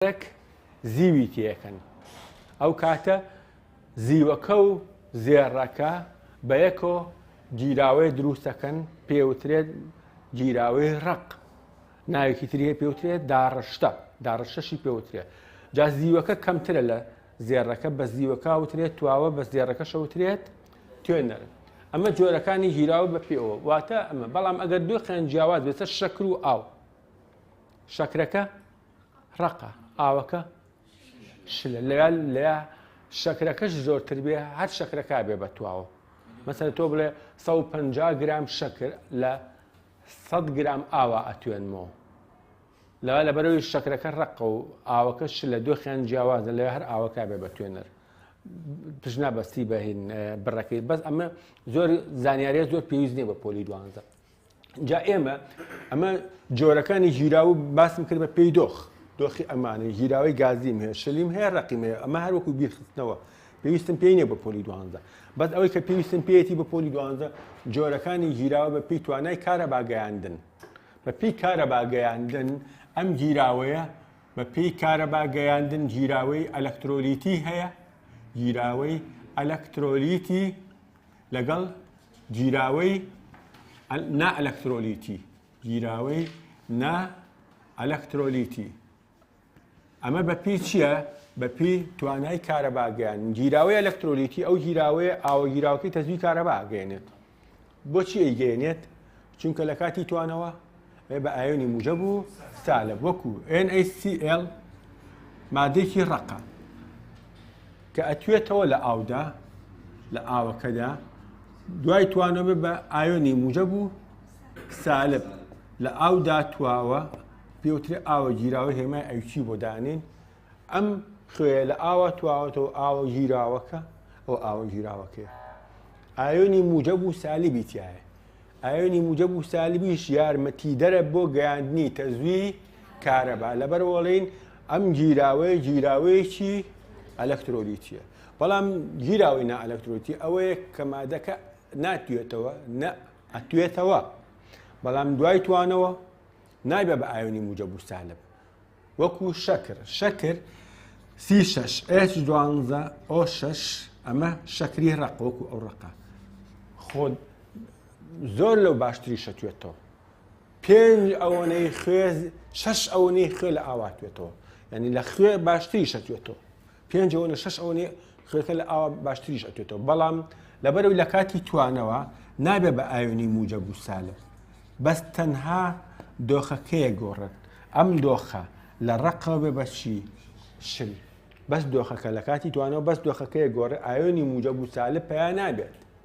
کەرەک زیوی تێکەن ئەو کاتە زیوەکە و زێڕەکە بە یەکۆ گیراوەیە دروستەکەن پێوترێت گیراوەی ڕق ناوێکی تریە پێوترێت داڕشتە داڕشتەشی پێوترێت جا زیوەکە کەمترە لە زێڕەکە بە زیوەکە وترێت تواوە بە زێڕەکە شەوترێت توێنەر ئەمە جۆرەکانی گیراوە بە پێەوە واتە ئەمە بەڵام ئەگەر دوو قێن جیاواز بێتە شەکر و ئاو شەکرەکە ڕەقە ئاوەکە شلە لە لە شەکرەکەش زۆرتر بێ هەر شەکرەکە بێ بە تواوە مەسەر تۆ بڵێ 150 گرام شەکر لە 100 گرام ئاوا ئەتوێنمەوە لە لە بەرەوەی شەکرەکە ڕقە و ئاوەکە ش لە دۆخیان جیاوازە لە هەر ئاوەکە بێ بە توێنەر پشنا بەستی بەهین بڕەکەی بەس ئەمە زۆر زانیارە زۆر پێویست نیە بە پۆلی دوانزە جا ئێمە ئەمە جۆرەکانی ژیراو باسم کرد بە پێی دۆخ دۆخی ئەمانە ژیراوی گازیم هەیە شلیم هەیە ڕقیم هەیە ئەمە هەروەکو بیرخستنەوە پێویستم پێی نیە بە پۆلی دوانزە بەس ئەوەی کە پێویستم پێێتی بە پۆلی دوانزە جۆرەکانی ژیراوە بە پێی توانای کارە باگەیاندن بە پێی کارە باگەیاندن ئەم گیراوەیە بە پێی کارە باگەیاندن گیراوەی ئەلەکترۆلیتی هەیە گیراوەی ئەلەکترۆلیتی لەگەڵ گیراوەی نا ئەلەکترۆلیتی گیراوەی نا ئەلەکترۆلیتی ئەمە بەپی چییە بەپی توانای کارەباگەیان گیراوەی ئەلەکترۆلیتی ئەو گیراوەیە ئاوە گیراوەکەی تەزوی کارەباگەێنێت بۆچی ئەیگەێنێت چونکە لە کاتی توانەوە ئێ بە ئایۆنی موجەب و سالب وەکو NaCl مادێکی ڕەقە کە ئەتوێتەوە لە ئاودا لە ئاوەکەدا دوای توانەوە بە ئایۆنی موجەب و سالب لە ئاودا تواوە پێوترێ ئاوە گیراوە هێمای ئەوچی بۆ دانێن ئەم خوێ لە ئاوا تواوەتەوە ئاوە گیراوەکە ئەو ئاوە گیراوەکەیە ئایۆنی موجەب و سالی بیتایە ئایۆنی موجەب و سالبیش یارمەتیدەرە بۆ گەیاندنی تەزوی کارەبا لەبەرەوەڵین ئەم گیراوەیە گیراوەیەکی ئەلەکترۆلیتیە بەڵام گیراوەی نا ئەلەکترۆتی ئەوەیە کە مادەکە ناتوێتەوە نە ئەتوێتەوە بەڵام دوای توانەوە نایبە بە ئایۆنی موجە بوستالب وەکو شەکر شەکر سی شەش ئێچ دوانزە ئۆ شەش ئەمە شەکری ڕق وەکو ئەو ڕقە خۆ زۆر لەو باشتری شەتوێتەوە پێنج ئەوەنەی خوێز شەش ئەوەنەی خوێ لە ئاواتوێتەوە ینی لە خوێ باشتری شەتوێتەوە پێنج ئۆنە شەش ئۆنێ خوێنەکە لە ئاوا باشتریش ئەتوێتەوە بەڵام لەبەرەوەی لە کاتی توانەوە نابێ بە ئایۆنی موجە بوو سالب بەس تەنها دۆخەکەیە گۆڕێت ئەم دۆخە لە ڕقەوە بێ بەچی شل بەس دۆخەکە لە کاتی توانەوە بەس دۆخەکەی گۆڕێ ئایۆنی موجە بوو سالب پیا نابێت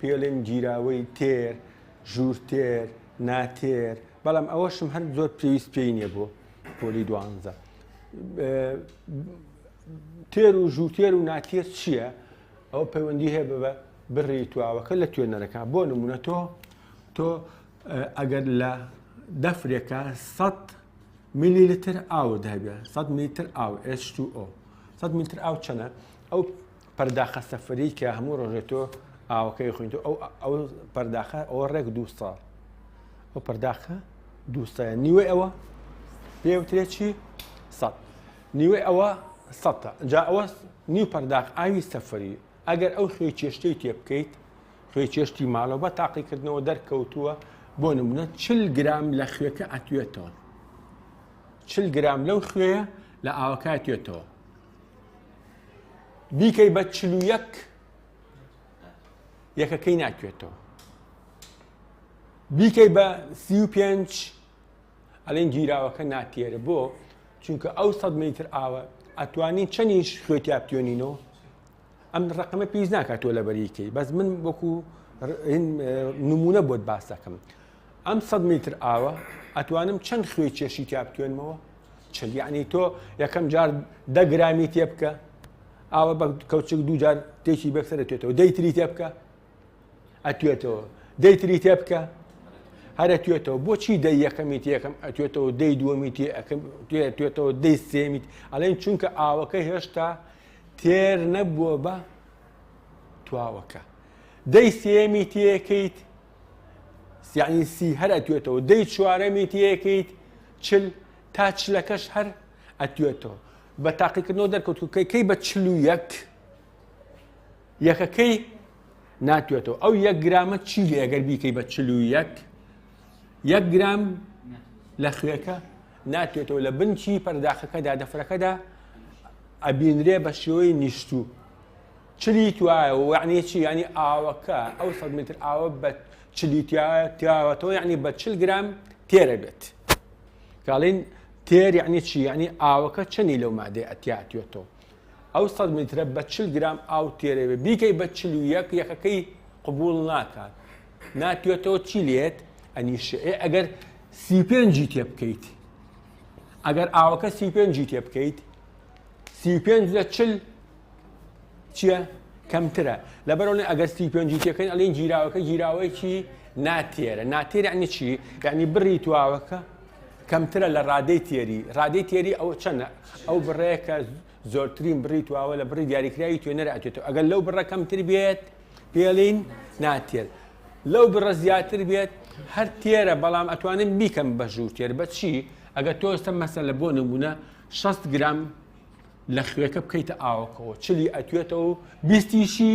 پێڵێن گیراوەی تێر، ژوور تێر، نا تێر، بەڵام ئەوەشم هەر زۆر پێویست پێی نییە بۆ پۆلی دوانزە. تێر و ژووتێر و ناتێر چییە؟ ئەو پەیوەندی هەیە بە بڕی تواوەکە لە توێنەرەکە بۆ نمونە تۆ تۆ ئەگەر لە دەفرێکە 100 میلی لتر ئاوت هەبێ 100 میتر ئاو H2O 100 میتر ئاو چەنە ئەو پەرداخە سەفەری کە هەموو ڕۆژێ تۆ ئاوەکەی خوێنیتەوە ئەو ئەو پەرداخە ئەوە ڕێک دوو ساڵ ئەو پەرداخە دوو سایە نیوەی ئەوە پێوترێ چی سەد نیوەی ئەوە سەتە جا ئەوە نیو پەرداخ ئاوی سەفەری ئەگەر ئەو خوێ چێشتەی تێ بکەیت خوێ چێشتی ماڵەوە بە تاقیکردنەوە دەرکەوتووە بۆ نمونە چل گرام لە خوێەکە ئەتوێتەوە چل گرام لەو خوێە لە ئاوەکە توێتەوە بیکەی بە چل و یەک یەکەکەی ناکوێتەوە بیکەی بە سی و پێنج ئەلێن گیراوەکە ناتێرە بۆ چونکە ئەو سەد میتر ئاوە ئەتوانین چەنیش خوێتیاپتیۆنینەوە ئەم ڕقمە پێویست ناکات تۆ لەبەری کەی بەس من وەکو نمونە بۆت باس دەکەم ئەم 100 میتر ئاوە ئەتوانم چەند خوێ کێشی تا بتوێنمەوە چەند یعنی تۆ یەکەم جار دەگرامی تێ بکە ئاوە بە کەوچک دووجار تێکی بەکسەر توێتەوە دەیتری تێ بکە ئەتوێتەوە دەیتری تێ بکە هەرە توێتەوە بۆچی دە یەکەمی تێکەم ئەتوێتەوە دەی دووەمی تێ توێتەوە دەی سێمیت ئەڵێن چونکە ئاوەکە هێشتا تێر نەبووە بە تواوەکە دەی سێمی تێکەیت سیعنی سی هەر ئەتوێتەوە دەی چوارەمی تێکەیت چل تا چلەکەش هەر ئەتوێتەوە بە تاقیکردنەوە دەرکەوتکەی کەی بە چل و یەک یەکەکەی ناتوێتەوە ئەو یەک گرامە چی لێگەر بیکەی بە چل و یەک یەک گرام لە خوێەکە ناتوێتەوە لە بنکی پەرداخەکەدا دەفرەکەدا ئەبینرێ بە شێوەی نیشتوو چلی توایە و یعنی چی ینی ئاوەکە ئەو سە متر ئاوە بە چلی تیاوەتەوە یعنی بە چل گرام تێرە بێت کاڵین تێر یعنی چی یعنی ئاوەکە چنی لەو مادەی ئەتیاتێتەوە ئەو سە میترە بە چل گرام ئاو تێرەوێ بیکەی بە چل و یەک یەکەکەی قوبول ناکات ناتوێتەوە چی لێت ئەنیشئ ئەگەر سی و پێنجی تێ بکەیت ئەگەر ئاوەکە سی و پێنجی تێ بکەیت سی و پێنج لە چل چییە؟ کەمترە لەبەرەوەی ئەگەر سی پێنجی تێکەین ئەلین گیراوەکە گیراوەیەکی ناتێرە ناتێر عنی چی یعنی بڕی تواوەکە کەمترە لە ڕادەی تێری ڕادەی تێری ئەو چەنە ئەو بڕەیەکە زۆرترین بڕی تواوە لە بڕی دیاریکراوی توێنەر ئەتێتەوە ئەگەر لەو بڕە کەمتر بێت پێڵین ناتێت لەو بڕە زیاتر بێت هەر تێرە بەڵام ئەتوانم بیکەم بە ژوور تێر بە چی ئەگە تۆستە مەسە لە بۆ نمونە 6 گرام لە خوێکە بکەیتە ئاوکەوە چلی ئەتوێتەوە و بیستیشی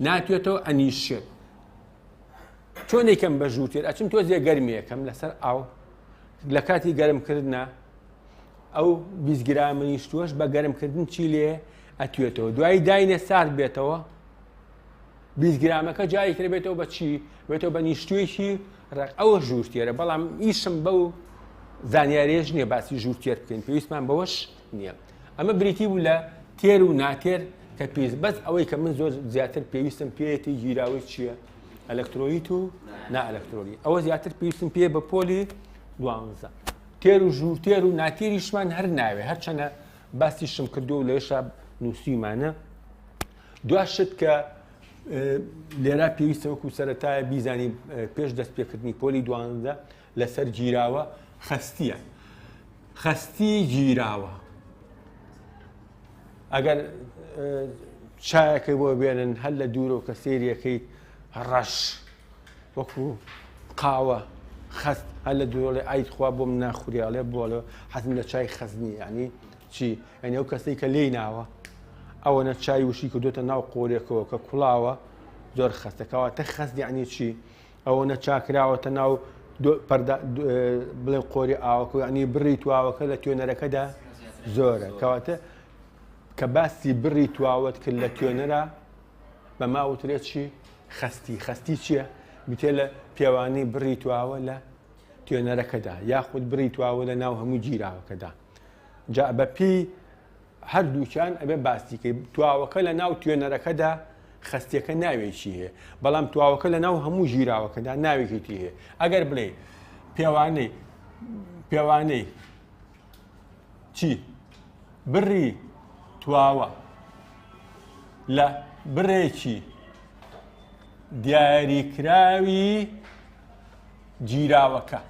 ناتوێتەوە ئەنیشێت چۆنێکم بە ژوور تێر ئەچم تۆ زیێ گەرمیەکەم لەسەر ئاو لە کاتی گەرمکردە ئەو بیست گرامە نیشتووەش بە گەرمکردن چی لێ ئەتوێتەوە دوایی داینە سارد بێتەوە بیست گرامەکە جاری کرد بێتەوە بە چی بێتەوە بە نیشتوێکی ڕق ئەوە ژوورتێرە بەڵام ئیشم بەو زانیارێژ نییە باسی ژوورتێر بکەین پێویستمان بەوەش نییە ئەمە بریتی بوو لە تێر و ناتێر کە پێویست بەس ئەوەی کە من زۆر زیاتر پێویستم پێێتی گیراوەی چییە ئەلکترۆیت و نائەلکترۆنی ئەوە زیاتر پێویستم پێ بە پۆلی دوانزە تێر و ژوور تێر و ناتێریشمان هەر ناوێ هەرچەنە باسی شم کردو و لەێشا نووسیمانە دو شت کە لێرا پێویستە وەکو سەرەتایە بیزانی پێش دەست پێکردنی پۆلی دوانزە لەسەر گیراوە خستیە خستی گیراوە ئەگەر چایەکەی بۆ بێنن هەر لە دوورەوە کە سێریەکەی ڕەش وەکو قاوە خەست هەر لە دوورەڵێ ئای خوا بۆم ناخوری ئەڵێ بۆڵێ حەزم لە چای خەزنی ینی چی ئەنێ ئەو کەسەی کە لێی ناوە ئەوەنە چای وشی کردوتە ناو قۆرێکەوە کە کوڵاوە زۆر خەستەکەەوە تە خەست یعنی چی ئەوەنە چاکراوەتە ناو بڵێن قۆری ئاوەکە ینی بڕی تواوەکە لە توێنەرەکەدا زۆرە کەواتە کە باسی بڕی تواوت کرد لە توێنەرە بە ماوترێت چی خەستی، خەستی چیە؟ گوتێ لە پێوانەی بڕی تواوە لە توێنەرەکەدا یاخود بڕی تواوە لە ناو هەموو گیراوەکەدا جا بەپی هەردووچان ئەبێ باستیکەی تواوەکە لە ناو توێنەرەکەدا خستیەکە ناوێکی هەیە بەڵام تواوەکە لە ناو هەموو ژیراوەکەدا ناوێکی هەیە ئەگەر بڵێ پێوانەی پێوانەی چی بڕی تواوە لە بڕێکی دیاریکراوی گیراوەکە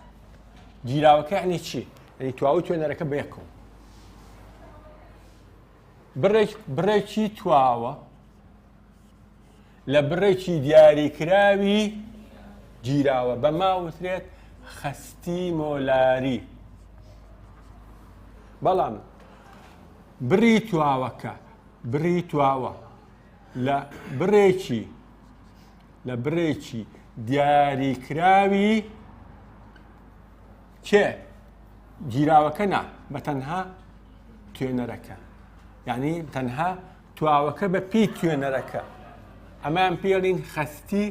گیراوەکە عنی چی ئەنی تواوە توێنەرەکە بەیەکەوە بڕێکی تواوە لە بڕێکی دیاریکراوی گیراوە بە ماوترێت خەستی مۆلاری بەڵام بڕی تواوەکە بڕی تواوە لە بڕێکی لە بڕێکی دیاریکراوی کێ گیراوەکە نا بە تەنها توێنەرەکە یعنی تەنها تواوەکە بە پێی توێنەرەکە ئەمان پێڵین خەستی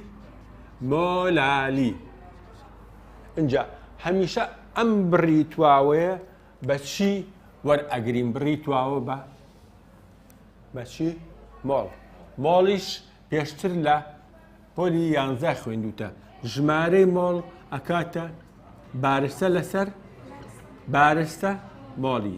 مۆلالی ئینجا هەمیشە ئەم بڕی تواوەیە بە چی وەرئەگرین بڕی تواوە بە بەچی مۆڵ مۆڵیش پێشتر لە پۆلی یانزە خوێندوتە ژمارەی مۆڵ ئەکاتە بارستە لەسەر بارستە مۆڵی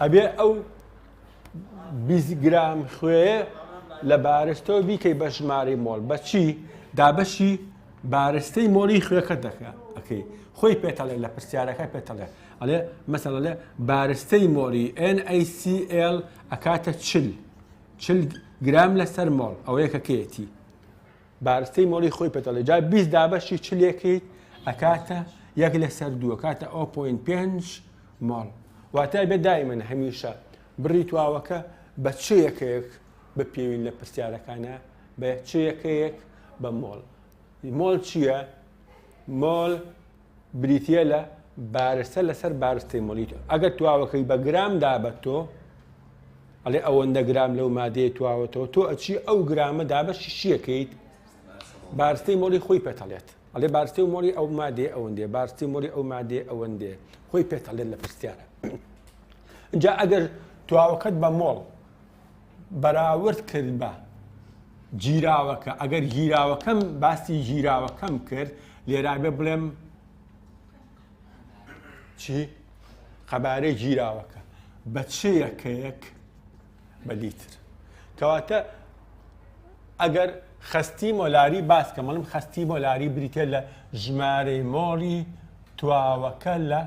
ئەبێ ئەو 20 گرام خوێ لە بارستەوە بیکەی بە ژمارەی مۆڵ بەچی دابەشی بارستەی مۆڵی خوێەکە دەکە ئەەکەی خۆی پێتەڵێ لە پرسیارەکە پێتەڵێ ئەڵێ مەسەڵ لە بارستەی مۆڵی NACL ئەکاتە چل چل گرام لەسەر مۆڵ ئەوەیەکەکەیەتی بارستەی مۆڵی خۆی پێتەڵێ جا بیست دابەشی چ لێکەیت ئەکاتە یەک لەسەر دووە کاتە ئەو پوین پێنج ماڵ واتای بێ دایمن هەمیشە بڕی تواوەکە بە چ یەکەیەک بپێوین لە پرسیارەکانە بە چ یەکەیەک بە مۆڵ مۆڵ چییە؟ مۆل بریتیە لە بارستە لەسەر بارستەی مۆلی تۆ ئەگەر تواوەکەی بە گرام دابەت تۆ ئەڵێ ئەوەندە گرام لەو مادەیە تواوەتەوە تۆ ئەچی ئەو گرامە دابەشی شیەکەیت بارستەی مۆلی خۆی پێتەڵێت ئەڵێ بارستی و مۆری ئەو مادێ ئەوەندێ بارستی مۆری ئەو مادێ ئەوەندێ خۆی پێتەڵێت لە پرسیارە جا ئەگەر تواوەکەت بە مۆڵ بەراورد کرد بە گیراوەکە ئەگەر گیراوەکەم باسی گیراوەکەم کرد لێرابێ بڵێم چی قەبارەی گیراوەکە بە چەیەکەیەک بە لیتر کەواتە ئەگەر خستی مۆلاری باسکە مەڵم خستی مۆلاری بریتە لە ژمارەی مۆڵی تواوەکە لە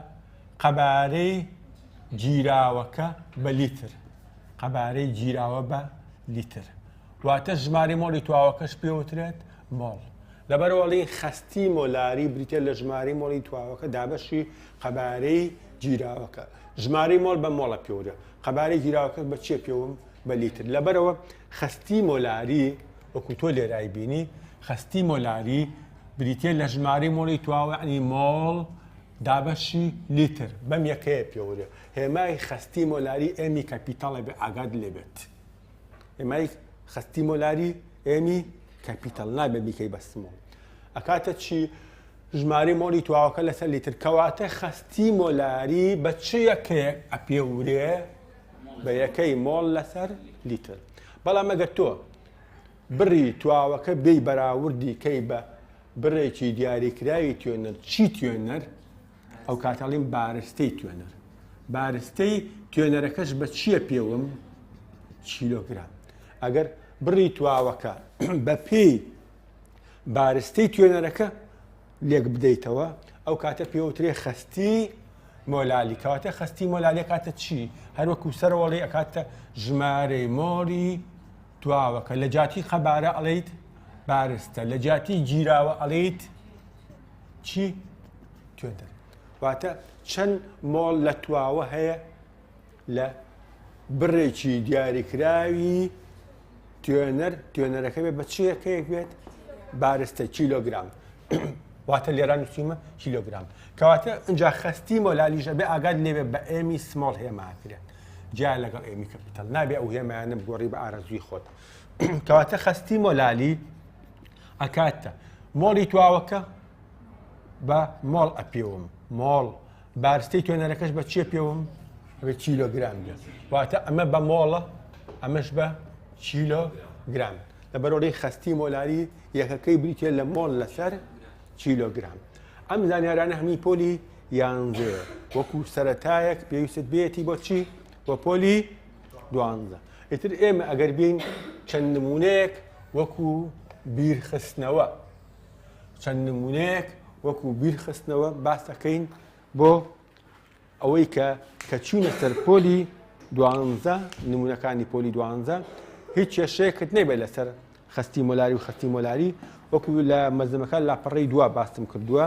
قەبارەی گیراوەکە بە لیتر قەبارەی گیراوە بە لیتر واتە ژمارەی مۆڵی تواوەکەش پێوترێت مۆڵ لەبەرەوەڵی خستی مۆلاری بریتە لە ژمارەی مۆڵی تواوەکە دابەشی قەبارەی گیراوەکە ژمارەی مۆل بە مۆڵە پێورە قەبارەی گیراوەکە بە چێ پێوم بە لیتر لەبەرەوە خستی مۆلاری وەکو تۆ لێرای بینی خستی مۆلاری بریتە لە ژمارەی مۆڵی تواوەعنی مۆڵ دابەشی لیتر بەم یەکەیە پێورە هێمای خەستی مۆلاری ئێمی کەپیتاڵە بێ ئاگات لێ بێت هێمای خەستی مۆلاری ئێمی کەپیتاڵ نابێ بیکەی بە سمۆڵ ئەکاتە چی ژماری مۆلی تواوەکە لەسەر لیتر کەواتە خەستی مۆلاری بە چ یەکێک ئەپێ ورێ بە یەکەی مۆڵ لەسەر لیتر بەڵام ئەگەر تۆ بڕی تواوەکە بێ بەراوردی کەی بە بڕێکی دیاریکراوی توێنەر چی توێنەر ئەو کاتە ئەڵیم بارستەی توێنەر. بارستەی توێنەرەکەش بە چییە پێوم؟ کیلۆگرام. ئەگەر بڕی تواوەکە بە پێی بارستەی توێنەرەکە لێک بدەیتەوە ئەو کاتە پێوترێ خستی مۆلالی کەواتە خستی مۆلالی کاتە چی هەروەکو سەرۆڵی ئەکاتە ژمارەی مۆری تواوەکە لە جاتی قەبارە ئەڵیت بارستە لە جاتی گیراوە ئەڵیت چی توێندە واتە چەند مۆڵ لە تواوە هەیە لە بڕێکی دیاریکراوی توێنەر توێنەرەکە بێت بە چیەکەیەک بێت بارستە کیلۆگرام واتە لێران نووسیمە کیلۆگرام کەواتە اینجا خستی مۆلالیژە بێ ئاگات لێوێ بە ئێمی سمۆڵ هێماکرێت جیا لەگەڵ ئێمی کەپیتال نابێ ئەو هێمایانە بگۆڕی بە ئارەزوی خۆت کەواتە خستی مۆلالی ئەکات مۆڵی تواوەکە بە مۆڵ ئەپێوم مۆڵ بارستەی توێنەرەکەش بە چیە پێوم بە چیلۆگرام بێت واتە ئەمە بە مۆڵە ئەمەش بە چیلۆ گرام لە بەرۆری خستی مۆلاری یەکەکەی بریتە لە مۆل لەسەر چیلۆگرام ئەم زانیارانە هەمی پۆلی یانزێ وەکو سەتایەک پێویست بێتی بۆچی بۆ پۆلی دوانزە، ئیتر ئێمە ئەگەر بێین چەند نمونەیەک وەکو بیرخستنەوە چەند نمونەیەک وەکو بیرخستنەوە باسەکەین بۆ ئەوەی کە کە چوونە سەر پۆلی دوانزە نمونونەکانی پۆلی دوانزە هیچ کێشەیەکت نەبێت لەسەر خستی مۆلاری و خستی مۆلاری وەکو لە مەزمەکان لاپەڕی دوا باستم کردووە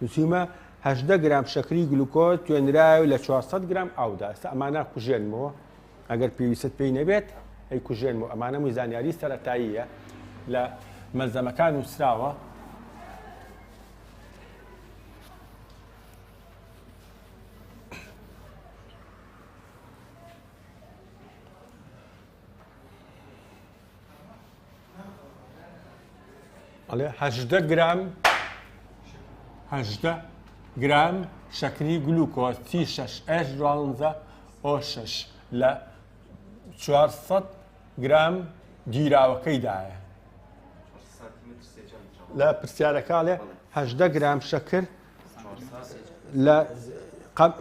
نوسیومە هەژدە گرام شەکری گلوکۆز توێنرایەو لە چوار سەد گرام ئاودا ئێستا ئەمانە کوژێنمەوە ئەگەر پێویستت پێی نەبێت ئەی کوژێنمەوە ئەمانە مووی زانیاری سەرەتاییە لە مەلزەمەکان نووسراوە ئەڵێ هەژدە گرام هەژدە گرام شەکری گلوکۆز تی شش ئەش دوانزە ئۆ شش لە 400 گرام گیراوەکەیدایە لە پرسیارەکە لێ هەژدە گرام شەکر لە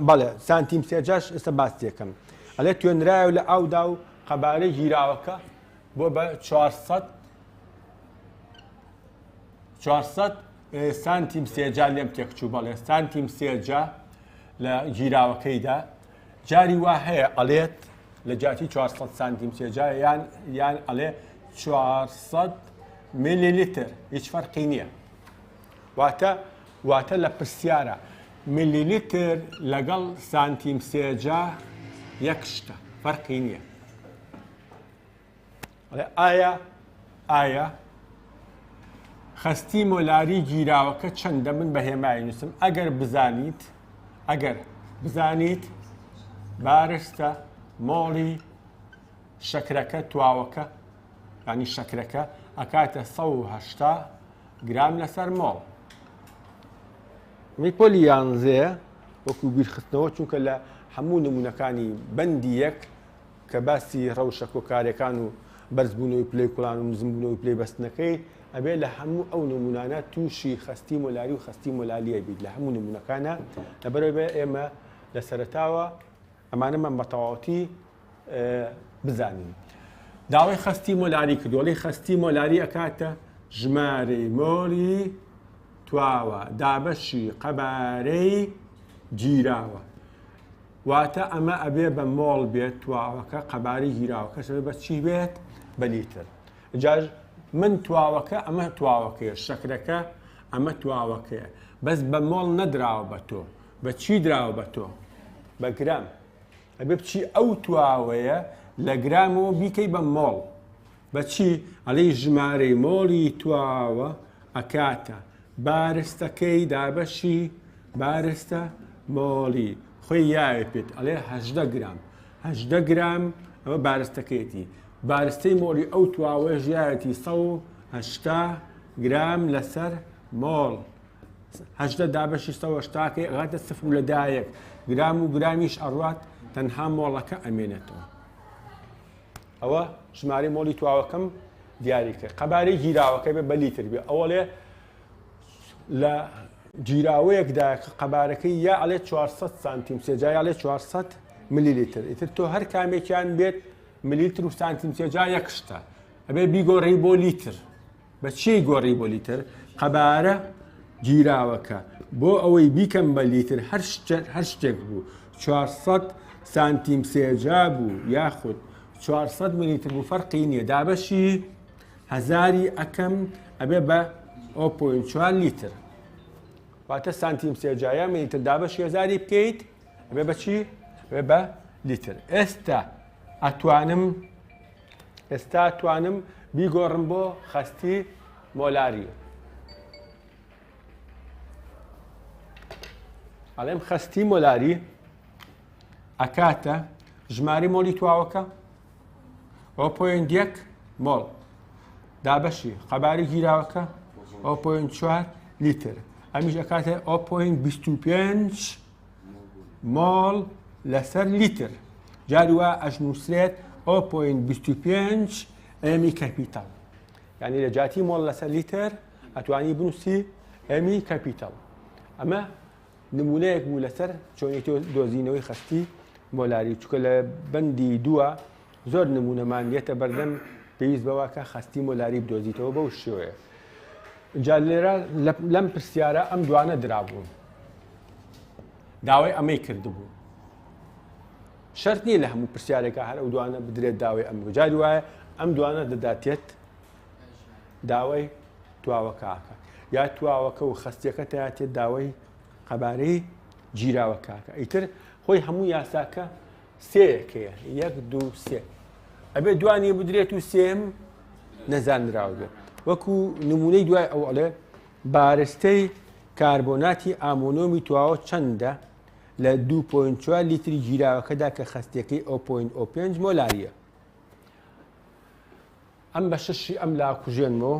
بەڵێ سانتیم سێجاش ئێستا باس تێکەم ئەلێ توێنرایە و لە ئاودا و قەبارەی گیراوەکە بۆ بە 400 400 سانتیم سێجا لێم تێکچوو بەڵێ سانتیم سێجا لە گیراوەکەیدا جاری وا هەیە ئەلێت لە جاتی 400 سانتیم سێجا یان یان ئەلێ 400 میلی لیتر هیچ فەرقی نییە واتە واتە لە پرسیارە ملیلیتر لەگەڵ سانتیم سێجا یەک شتە فەرقی نییە ئایا ئایا خستی مۆلاری گیراوەکە چەندە من بە هێمای نووسم ئەگەر بزانیت ئەگەر بزانیت بارستە مۆڵی شەکرەکە تواوەکە ینی شەکرەکە ئەکاتە 1970 گرام لەسەر مۆڵ. ی پۆلی یانزێ وەکو بیرخستنەوە چونکە لە هەموو نمونونەکانی بەندی یەک کە باسی ڕەوشە کۆکارەکان و بەرزبوونەوەی پلەی کوڵان و نزمبوونەوەی پلەی بەستنەکەی ئەبێ لە هەموو ئەو نمونانە تووشی خستی مۆلاری و خستی مۆلالیە بیت لە هەموو نمونونەکانە لەبەرەوەێ ئێمە لە سەرتاوە ئەمانە من بە تەواوەتی بزانین. داوای خەستی مۆلاری کردووە، دەڵێ خەستی مۆلاری ئەکاتە ژمارەی مۆلی تواوە دابەشی قەبارەی گیراوە. واتە ئەمە ئەبێ بە مۆڵ بێت تواوەکە قەبارەی گیراوەکەش ئەبێ بە چی بێت بە لیتر. جا من تواوەکە ئەمە تواوەکەیە شەکرەکە ئەمە تواوەکەیە بەس بە مۆڵ نەدراوە بە تۆ بە چی دراوە بە تۆ؟ بە گرام. ئەبێ بچی ئەو تواوەیە لە گرامەوە بیکەی بە مۆڵ. بە چی؟ ئەڵێی ژمارەی مۆڵی تواوە ئەکاتە بارستەکەی دابەشی بارستە مۆڵی خۆی یاوێ پێت ئەڵێ هەژدە گرام. هەژدە گرام ئەوە بارستەکەیەتی. بارستەی مۆڵی ئەو تواوەیەش یاوێتی سەد و هەشتا گرام لەسەر مۆڵ. هەژدە دابەشی سەوەش تاکەی ئەگاتە سفر و لە دایەک گرام و گرامیش ئەڕات تەنها مۆڵەکە ئەمێنێتەوە ئەوە ژماری مۆڵی تواوەکەم دیاری کرد قەبارەی گیراوەکە بێ بە لیتر بێ ئەوە لێ لە گیراوەیەکدا قەبارەکەی یا ئەڵێ 400 سانتیم سێجا یا لێ 400 ملی لیتر ئیتر تۆ هەر کامێکیان بێت ملیتر و سانتیم سێجا یەک شتە ئەبێ بیگۆڕی بۆ لیتر بە چێی گۆڕی بۆ لیتر؟ قەبارە گیراوەکە بۆ ئەوەی بیکەم بە لیتر هەر شتێک هەر شتێک بوو 400 سانتیم سێجا بوو یاخود 400 ملیتر بوو فەرقی نییە دابەشی هەزاری ئەکەم ئەبێ بە 0.4 لیتر واتە سانتیم سێجایە ملیتر دابەشی هەزاری بکەیت ئەبێ بە چی ئەبێ بە لیتر ئێستا ئەتوانم ئێستا توانم بیگۆڕم بۆ خەستی مۆلاری ئەڵێم خەستی مۆلاری ئەکاتە ژماری مۆلی تواوەکە ئەو پوینت یەک مۆڵ دابەشی قەباری گیراوەکە ئەو پوینت چوار لیتر ئەمیش ئەکاتێ ئەو پوینت 25 مۆڵ لەسەر لیتر جاری وا ئەشنووسرێت 0.25 ئێمی کەپیتەڵ یعنی لە جاتی مۆڵ لەسەر لیتر ئەتوانی بنووسی ئێمی کەپیتەڵ ئەمە نمونەیەک بوو لەسەر چۆنێتی دۆزینەوەی خستی مۆلاری چکە لە بەندی دووە زۆر نمونەمان دێتە بەردەم پێویست بەوە کە خەستی مۆلاری بدۆزیتەوە بەو شێوەیە جا لێرە لەم پرسیارە ئەم دوانە درابوون داوای ئەمەی کردبوو شەرت نییە لە هەموو پرسیارێکە هەر ئەو دوانە بدرێت داوای ئەم جاری وایە ئەم دوانە دەداتێت داوای تواوەکەکە یا تواوەکە و خستیەکە تاتێت داوای قەبارەی گیراوەکەکە ئیتر خۆی هەموو یاساکە سێ یەک هەیە یەک دوو سێ ئەبێ دوانی بدرێت و سێم نەزانراو بێت وەکو نمونەی دوای ئەو ئەڵێ بارستەی کاربۆناتی ئامۆنۆمی تواوە چەندە لە 2.4 لیتری گیراوەکەدا کە خستێکی ئۆ.5 مۆلاریە ئەم بە شەشی ئەم لا کوژێنمەوە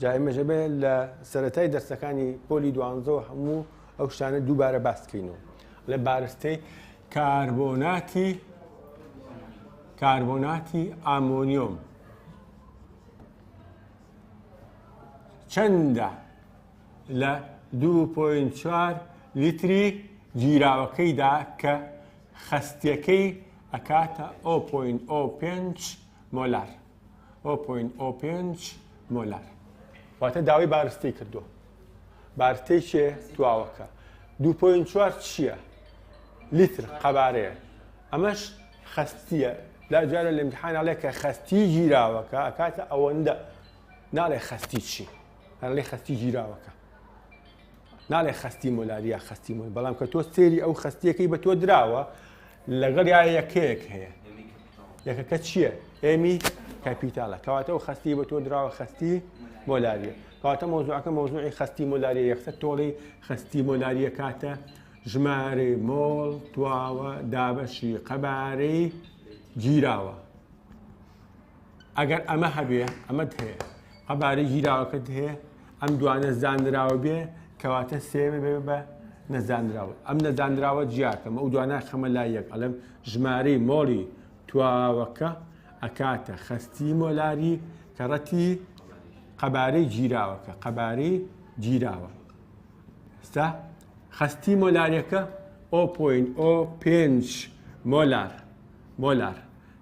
جا ئێمەش ئەبێ لە سەرەتای دەرسەکانی پۆلی دوانزەوە هەموو ئەو شتانە دووبارە باسکەینەوە لە بارستەی کاربۆناتی کاربۆناتی ئامۆنیۆم چەندە لە 2.4 لیتری گیراوەکەیدا کە خستیەکەی ئەکاتە 0.05 مۆلار ئۆ پۆین ئۆ پێنج مۆلار واتە داوای بارستەی کردو بارتەی چێ دواوەکە دو پۆین چوار چییە لیتر قەبارەیە ئەمەش خستیە لا جارە لە امتحاناڵێ کە خستی گیراوەکە ئەکاتە ئەوەندە ناڵێ خستی چی هەڵێ خستی گیراوەکە ناڵێ خستی مۆلاریا خستی مۆل بەڵام کە تۆ سێری ئەو خستیەکەی بە تۆ دراوە لەگەڵیا یەکەیەک هەیە یەکەکە چییە؟ ئێمی کەپیتالە کەواتە و خستی بە تۆ دراوە خستی مۆلاریە کەواتە مۆزوعەکە مۆزوعی خستی مۆلاریە یەکسە تۆڵی خستی مۆلاریە کاتە ژمارەی مۆڵ تواوە دابەشی قەبارەی گیراوە ئەگەر ئەمە هەبێ ئەمەت هەیە قەبارەی گیراوەکەت هەیە ئەم دوانە زانراوە بێ کەواتە سێمە بێ بە نەزانراوە ئەم نەزانراوە جیاکەم ئەو دوانە خەمە لا یەک ئەلم ژمارەی مۆڵی تواوەکە ئەکاتە خەستی مۆلاری کە ڕەتی قەبارەی گیراوەکە قەبارەی گیراوە ستا خەستی مۆلارەکە ئۆ پۆین ئۆ پێنج مۆلار مۆلار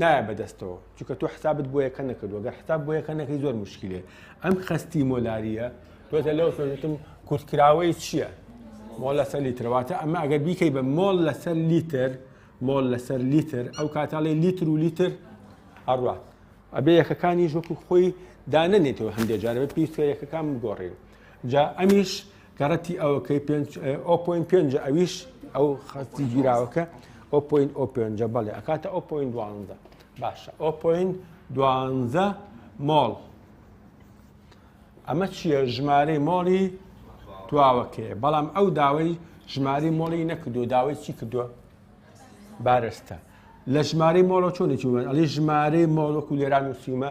نایە بەدەستەوە چونکە تۆ حسابت بۆ یەکە نەکردووە گەر حساب بۆ یەکە نەکەی زۆر مشکلێ ئەم خەستی مۆلاریە تۆتە لەو سۆتم کورتکراوەی چییە مۆڵ لەسەر لیترەواتە ئەمە ئەگەر بیکەی بە مۆڵ لەسەر لیتر مۆڵ لەسەر لیتر ئەو کاتاڵی لیتر و لیتر ئەڕات ئەبێ یەکەکانی ژۆک و خۆی دانەنێتەوە هەندێک جارە پێویستە یەکەکان بگۆڕێن جا ئەمیش گەڕەتی ئەوەکەی ئۆپۆین پێنجە ئەویش ئەو خەستی گیراوەکە ئۆپۆین ئۆ پێنجە بەڵێ ئەکاتە ئۆپۆین دوانزە باشە ئۆپۆین دوانزە مۆڵ ئەمە چییە ژمارەی مۆڵی تواوەکەیە بەڵام ئەو داوای ژماری مۆڵی نەکردو داوای چی کردووە بارستە لە ژماری مۆڵە چۆنێکی وەن ئەلی ژمارەی مۆڵۆک و لێران وسیمە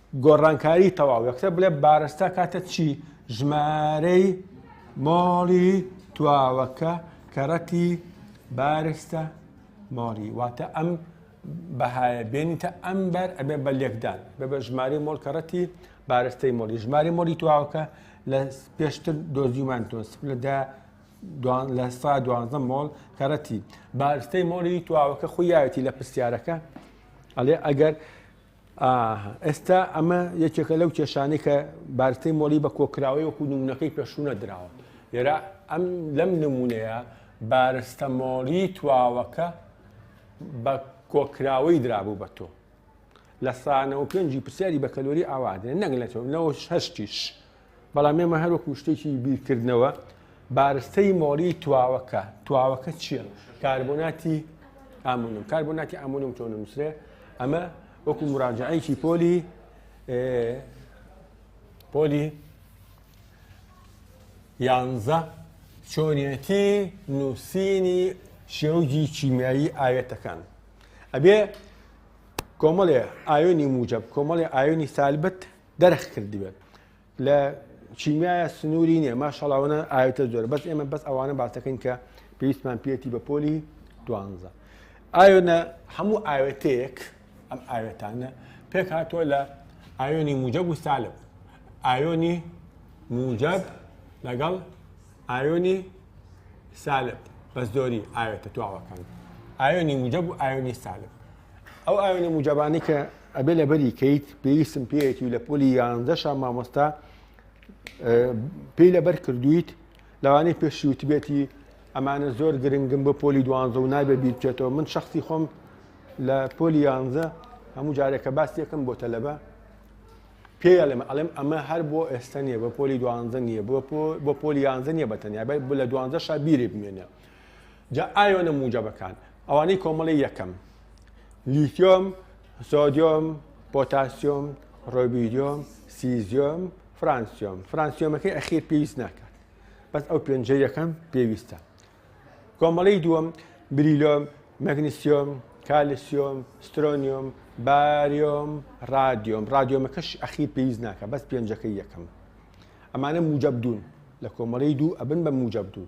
گۆڕانکاری تەواو یەکسەر بڵێ بارستا کاتە چی ژمارەی مۆڵی تواوەکە کەڕەتی بارستە مۆڵی واتە ئەم بەهایە بێنیتە ئەم بەر ئەبێ بە لێکدان بە بە ژماری مۆڵ کەڕەتی بارستەی مۆلی ژماری مۆلی تواوەکە لە پێشتر دۆزیومان تۆ لەدا لە سا دوانزە مۆڵ کەڕەتی بارستەی مۆلی تواوەکە خویایەتی لە پرسیارەکە ئەڵێ ئەگەر ئاها ئێستا ئەمە یەکێکە لەو کێشانەی کە بارستەی مۆڵی بە کۆکراوەی وەکو نمونونەکەی پێشوو نەدراوە لێرا ئەم لەم نمونەیە بارستە مۆڵی تواوەکە بە کۆکراوەی درابوو بە تۆ لە سانەوە پێنجی پرسیاری بە کەلۆری ئاوادێ نەنگ لە تۆ نەوە هەشتیش بەڵام ئێمە هەر وەکو شتێکی بیرکردنەوە بارستەی مۆڵی تواوەکە تواوەکە چییە کاربۆناتی ئامونم کاربۆناتی ئامونم چۆن نووسێ ئەمە وەکو مراجعەیەکی پۆلی پۆلی یانزە چۆنیەتی نووسینی شێوجی چیمیایی ئاوێتەکان ئەبێ کۆمەڵێ ئاوێنی موجب کۆمەڵێ ئاوێنی سالبەت دەرخ کردبێت لە چیمیایە سنووری نیە ماشەڵاوانە ئاوێتە زۆر بەس ئێمە بەس ئەوانە باسەکەین کە پێویستمان پێێتی بە پۆلی دوانزە ئاوێنە هەموو ئاوێتەیەک ئەم ئاوێتانە پێک هاتووە لە ئاوێنی موجەب و سالب ئاوێنی موجەب لەگەڵ ئاوێنی سالب بە زۆری ئاوێتە تواوەکان ئاوێنی موجەب و ئاوێنی سالب ئەو ئاوێنە موجەبانی کە ئەبێ لەبەری کەیت پێویستم پێیەتی و لە پۆلی یانزەشە مامۆستا پێی لەبەر کردویت لەوانەی پێشی وتبێتی ئەمانە زۆر گرنگم بۆ پۆلی دوانزە و نابێ بیرچێتەوە من شخصی خۆم لە پۆلی یانزە هەموو جارێکە باسیەکەم بۆ تەلەبە پێیە لەمە ئەڵێم ئەمە هەر بۆ ئێستا نیە بە پۆلی دوانزە نیە بۆ پۆلی یانزە نیە بە تەنیا بۆ لە دوانزە شابیری بمێنە جا ئایۆنە موجەبەکان ئەوانەی کۆمەڵەی یەکەم، لیتیۆم، سۆدیۆم، پۆتاسیۆم، ڕۆبیدیۆم، سیزیۆم، فرانسیۆم، فرانسیۆمەکەی ئەخیر پێویست ناکات بەس ئەو پێنجەی یەکەم پێویستە. کۆمەڵەی دووەم، بریلۆم، مەگنسیۆم، کالسیۆم، سترۆنیۆم، باریۆم، ڕادیۆم، ڕادیۆمەکەش ئەخیر پێویست ناکات بەس پێنجەکەی یەکەم. ئەمانە موجەب دوون لە کۆمەڵەی دوو ئەبن بە موجەب دوو.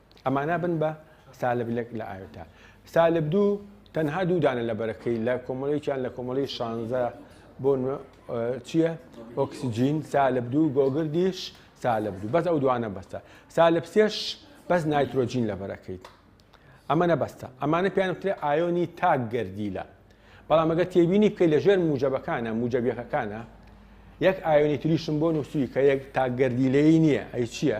ئەمانە بن بە سالب لەک لە ئاوێتە سالب دوو تەنها دوو دانە لە بەرەکەی لە کۆمەڵێکیان لە کۆمەڵی شانزە بۆ چییە ئۆکسسیجین سالب دوو گۆگردیش سالب دوو بەس ئەو دوانە بەستە سالب سێش بەس نایترۆجین لە بەرەکەیت ئەمە نەبەستە ئەمانە پێیان وترێ ئایۆنی تاک گردیلە بەڵام ئەگە تێبینی بکەی لە ژێر موجەبەکانە موجەبیەکەکانە یەک ئایۆنی تریشم بۆ نووسوی کە یەک تاکگەردیلەی نییە ئەی چییە؟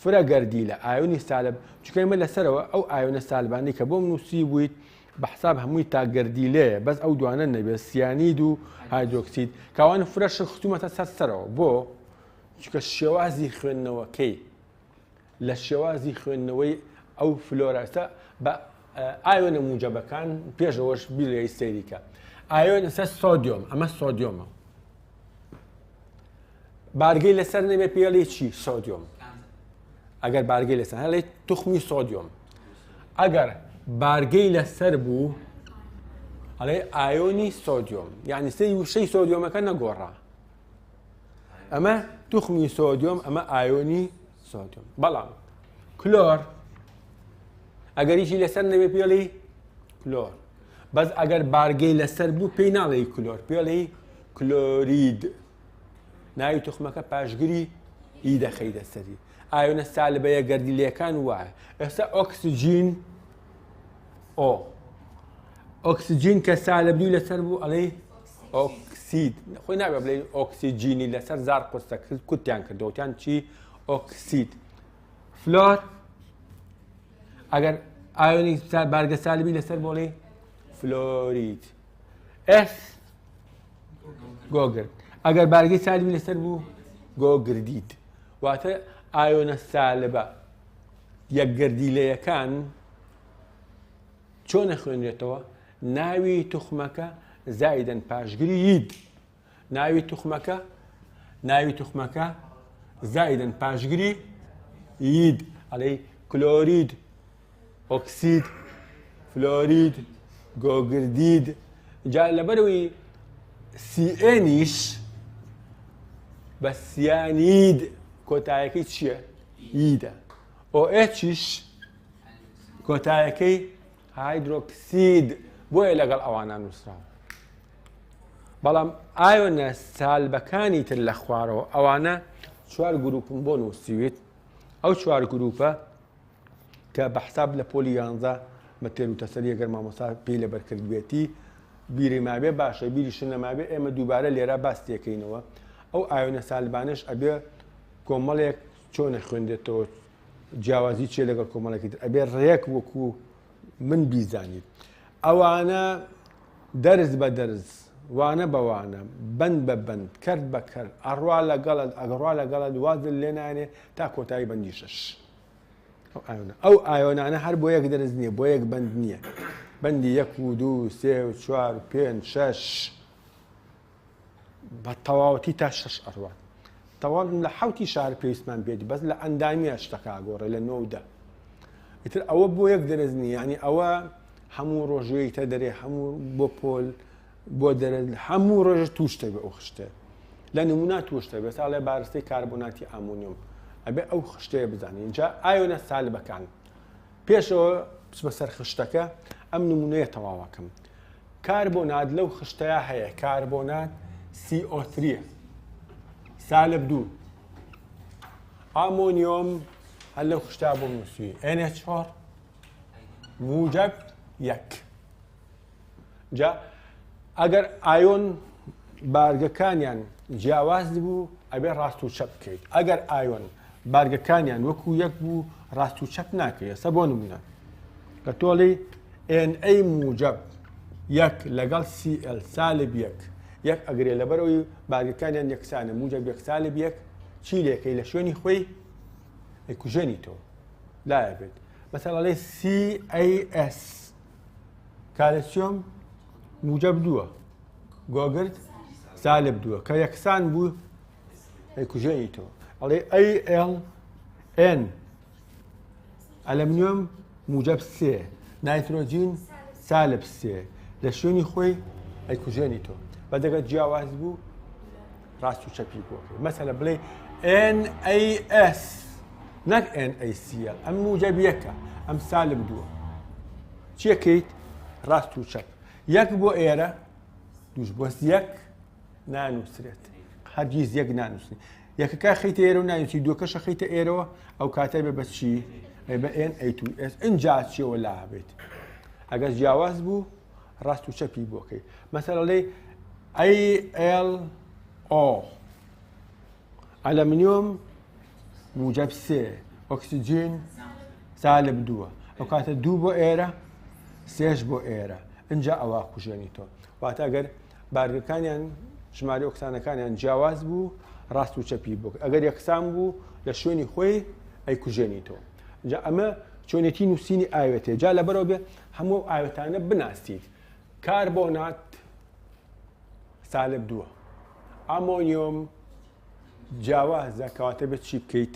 فرە گەردیلە ئایۆنی سالب چونکە ئێمە لەسەرەوە ئەو ئایۆنە سالبانەی کە بۆم نووسیبوویت بە حساب هەمووی تاک گەردیلەیە بەس ئەو دوانە نەبێت سیانید و هایدرۆکسید کاوان فرەشن ختومەتە سەر سەرەوە بۆ چونکە شێوازی خوێندنەوەکەی لە شێوازی خوێندنەوەی ئەو فلۆرەسە بە ئایۆنە موجەبەکان پێشەوەش بیلێ سەیریکە ئایۆن سە سۆدیۆم ئەمە سۆدیۆمە بارگەی لەسەر نەبێت پێڵی چی سۆدیۆم ئەگەر بارگەی لەسەر هەڵێ توخمی سۆدیۆم ئەگەر بارگەی لەسەر بوو ئەڵێ ئایۆنی سۆدیۆم یعنی سەی وشەی سۆدیۆمەکە نەگۆڕا ئەمە توخمی سۆدیۆم ئەمە ئایۆنی سۆدیۆم بەڵام کلۆر ئەگەریشی لەسەر نەبێ پێڵی کلۆر بەس ئەگەر بارگەی لەسەر بوو پێی ناڵێی کلۆر پێڵی کلۆرید ناوی توخمەکە پاشگری ئی دەخەیدە سەری ئاوێنە سالبەیە گەردیلەکان وایە ئێستا ئۆکسجین ئۆ ئۆکسجین کە سالبدوی لەسەر بوو ئەڵێ ئۆکسید خۆی نابێ بڵێ ئۆکسیجینی لەسەر زار قرسە کوتیان کردوتیان چی ئۆکسید فلۆر ئەگەر ئایۆنی بارگە سالبی لەسەر بۆڵی فلۆریت ئس گۆگرد ئەگەر بارگەی سالبی لەسەر بوو گۆگردیت واتە ئایۆنە سالبە یەکگردیلەیەکان چۆن نەخوێنرێتەوە ناوی توخمەکە زایدن پاشگری یید ناوی توخمەکە ناوی توخمەکە زایدن پاشگری ید ئەڵێی کلۆرید ئۆکسید فلۆرید گۆگردید جا لەبەرەوەی سیئێنیش بە سیانید کۆتایەکەی چییە؟ یدە ئۆئچیش کۆتایەکەی هایدرۆکسید بۆیە لەگەڵ ئەوانە نووسراوە بەڵام ئایۆنە سالبەکانی تر لە خوارەوە ئەوانە چوار گروپم بۆ نووسیویت ئەو چوار گروپە کە بە حساب لە پۆلی یانزە بە تێر و تەسەریە گەر مامۆسا پێی لە بەرکردبێتی بیری ماوێ باشە بیری شنەماوێ ئێمە دووبارە لێرە باس تێکەینەوە ئەو ئاوێنە سالبانش ئەبێ کۆمەڵێک چۆنە خوێندێتەوە جیاوازی چێ لەگەڵ کۆمەڵێکی ئەبێ ڕێک وەکو من بیزانیت ئەوانە دەرز بە دەرز وانە بە وانە بند بە بند کرد بە کرد ئەڕوا لەگەڵت ئەگەڕوا لەگەڵت وازل لێنانێ تا کۆتایی بەندی شش ئەو ئایۆنانە هەر بۆ یەک دەرز نییە بۆ یەک بند نییە بەندی یەک و دوو سێ و چوار پێنج شش بە تەواوەتی تا شش ئەڕوات تەواو لە حوتی شار پێویستمان بێت بەس لە ئەندامیە شتەکە گۆڕێ لە نۆدە ئیتر ئەوە بۆ یەک دەرز نیە ینی ئەوە هەموو ڕۆژەی تە دەرێ هەموو بۆ پۆل بۆ دەرێت هەموو ڕۆژ توشتە بە ئەو خشتێ لە نمونا توشتە بێت ساڵێ بارستەی کاربۆناتی ئامونیۆم ئەبێ ئەو خشتەیە بزانین اینجا ئاوێنە سالبەکان پێشەوە بچمە سەر خشتەکە ئەم نمونەیە تەواوەکەم کاربۆنات لەو خشتەیا هەیە کاربۆنات CO3 سالب دوو ئامۆنیۆم هەر لەو خشتا بۆم نووسوی NH4 موجب یەک جا ئەگەر ئایۆن بارگەکانیان جیاواز بوو ئەبێ ڕاست و چەپ بکەیت ئەگەر ئایۆن بارگەکانیان وەکو یەک بوو ڕاست و چەپ ناکرێسە بۆ نمونە کە تۆڵی ئێن ئەی موجەب یەک لەگەڵ سی ئێل سالب یەک یەک ئەگرێ لەبەرەوەی بارگەکانیان یەکسانە موجەب یەک سالب یەک چی لێکەی لە شوێنی خۆی ئەیکوژێنی تۆ لایە بێت مەسەڵە لەی CAS کالسیۆم موجەب دووە گۆگرد سالب دووە کە یەکسان بوو ئەیکوژێنی تۆ ئەڵێ ALN ئەلەمنیۆم موجەب سێ نایترۆجین سالب سێ لە شوێنی خۆی ئەیکوژێنی تۆ بە دەگەت جیاواز بوو ڕاست و چەپی بۆ مەسەلە بڵێ NAS نەک NACL ئەم موجەب یەکە ئەم سالب دووە چیەکەیت ڕاست و چەپ یەک بۆ ئێرە دوش بۆس یەک نانووسرێت هەرگیز یەک نانووسنی یەکەکە خیتە ئێرە و ناویی دوکەشە خیتە ئێرەوە ئەو کاتای بە بەچی بە ئێن ئەیتوئس ئەجا چیەوە لا بێت ئەگەر جیاواز بوو ڕاست و چەپی بۆکەی مەسەرەڵێ ئەیL ئۆ ئەلەمنیۆم موجب سێ ئۆکسسیجین سالب دووە ئەو کاتە دوو بۆ ئێرە سێش بۆ ئێرە اینجا ئەوە کوژێنی تۆ واتە ئەگەر بارگەکانیان ژمارە ئۆکسانەکانیان جیاواز بوو ڕاست و چەپی بوو ئەگەر یەکسان بوو لە شوێنی خۆی ئەیکوژێنی تۆ جا ئەمە چۆنێتی نووسینی ئاوێتێ جا لە بەرەوە بێ هەموو ئاوێتانە بناسیت کاربۆنات سالب دووە ئامۆنیۆم جیاوازە کەواتە بێت چی بکەیت